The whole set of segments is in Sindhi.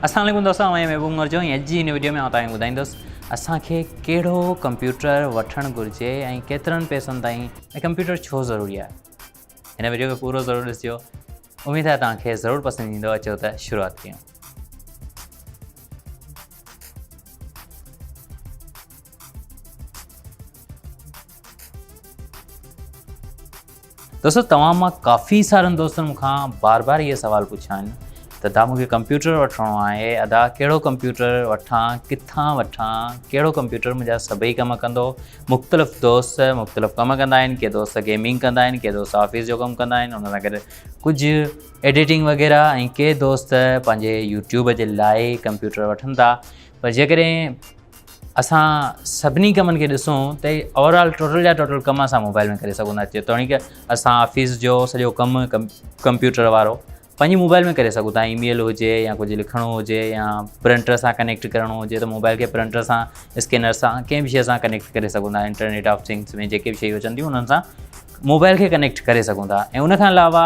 اسلام عليڪم دوستو آئين محبوب عمر جو ۽ اڄ جي هن وڊيو ۾ آئون توهان کي ٻڌائيندس اسان کي ڪهڙو ڪمپيوٽر وٺڻ گهرجي ۽ ڪيترن پئسن تائين ۽ ڪمپيوٽر ڇو ضروري آهي هن وڊيو کي پورو ضرور ڏسجو اميد آهي توهان کي ضرور پسند ايندو اچو ته شروعات ڪيون دوستو توهان مان ڪافي سارن دوستن مون کان بار بار اهي سوال پڇا آهن ته ادا مون کي ڪمپيوٽر وٺڻو آهي ادا ڪهڙو ڪمپيوٽر وٺان ڪٿان وٺان ڪهڙو ڪمپيوٽر منهنجا سڀئي ڪم ڪندو مختلف دوست مختلف ڪم ڪندا آهن ڪي دوست گيمنگ ڪندا آهن ڪي دوست آفيس جو ڪم ڪندا آهن ان سان گڏ ڪجهه ايڊيٽنگ وغيره ۽ ڪي دوست پنهنجي يوٽيوب جي لاء ڪمپيوٽر وٺن ٿا پر جيڪڏهن اسان سڀني ڪمن کي ڏسون ته اوور آل ٽوٽل جا ٽوٽل ڪم اسان موبائل ۾ ڪري سگهون ٿا جيتوڻيڪ اسان آفيس جو سڄو ڪم ڪمپيوٽر وارو پنهنجي موبائل ۾ ڪري سگهون ٿا اي ميل هجي يا ڪجهه لکڻو هجي يا پرنٽر سان ڪنيڪٽ ڪرڻو هجي ته موبائل کي پرنٽر سان اسڪينر سان ڪنهن بي شيء سان ڪنيڪٽ ڪري سگهون ٿا انٽرنيٽ آف ٿنگس ۾ جيڪي بي شيء اچن ٿيون انهن سان موبائل کي ڪنيڪٽ ڪري سگهون ٿا ۽ ان کان علاوه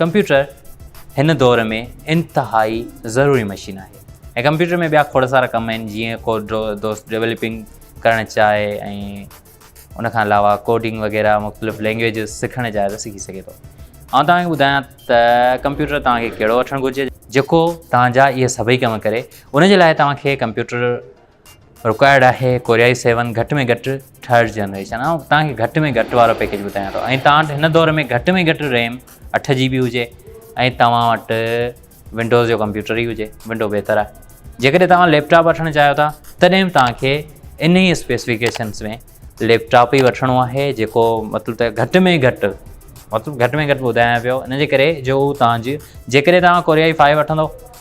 ڪمپيوٽر هن دور ۾ انتهائي ضروري مشين آهي ۽ ڪمپيوٽر ۾ ٻيا کوڙ سارا ڪم آهن جيئن ڪو دوست ڊيولپنگ ڪرڻ چاهي ۽ ان کان علاوه ڪوڊنگ وغيره مختلف لينگويجز سکڻ چاهي ته سکي سگهي ٿو آئون توهانکي ٻڌايان ته ڪمپيوٽر توهانکي ڪهڙو وٺڻ گهرجي جيڪو توهانجا اهي سڀئي ڪم ڪري ان جي لاء توهانکي ڪمپيوٽر رڪوائرڊ آهي ڪوريائي سيون گهٽ ۾ گهٽ ٿرڊ جنريشن آئون تان کي گهٽ ۾ گهٽ وارو پيڪيج ٻڌايان ٿو ۽ تان هن دور ۾ گهٽ ۾ گهٽ ريم اٺ جي بي هجي ۽ تواں وٽ ونڊوز جو ڪمپيوٽر ئي هجي ونڊو بهتر آهي جيڪڏهن تواں ليپ ٽاپ وٺڻ چاهيو ٿا تڏهن به تان کي ان ئي اسپيسفڪيشنس ۾ ليپ ٽاپ ئي وٺڻو آهي جيڪو مطلب ته گهٽ ۾ گهٽ مطلب گهٽ ۾ گهٽ ٻڌايان پيو ان جي ڪري جو تان جي جيڪڏهن تواں ڪوريائي فائيو وٺندو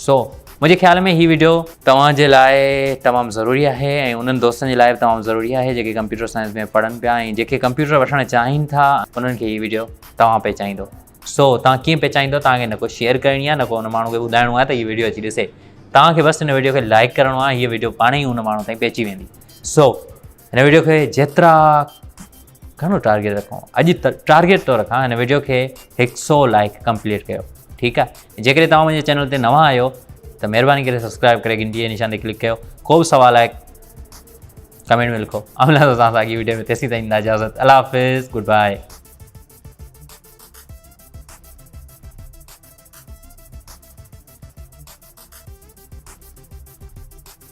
سو منهنجي خيال ۾ هي ويڊيو توهان جي لاء تمام ضروري آهي ۽ انهن دوستن جي لاء به تمام ضروري آهي جيڪي ڪمپيوٽر سائنس ۾ پڙهن پيا ۽ جيڪي ڪمپيوٽر وٺڻ چاهين ٿا انهن کي هي ويڊيو توهان پهچائيندو سو توهان ڪيئن پهچائيندو توهان کي نه ڪو شيئر ڪرڻي آهي نه ڪو ان ماڻهو کي ٻڌائڻو آهي ته هي ويڊيو اچي ڏسي توهان کي بس ان ويڊيو کي لائڪ ڪرڻو آهي هي ويڊيو پاڻ ئي ان ماڻهو تائين پهچي ويندي سو هن ويڊيو کي جيترا گهڻو ٽارگيٽ رکون اڄ ٽارگيٽ ٿو رکان هن ويڊيو کي هڪ سو لائڪ ڪمپليٽ ڪيو ٺيڪ آهي جيڪڏهن توهان منهنجي چينل تي نوان آهيو ته مهرباني ڪري سبسڪرائب ڪري گهنٽي جي نشان تي ڪلڪ ڪيو ڪو به سوال آهي ڪمينٽ ۾ لکو املا سان سان اڳي ويڊيو ۾ تيسي تائين اجازت الله حافظ گڊ بائي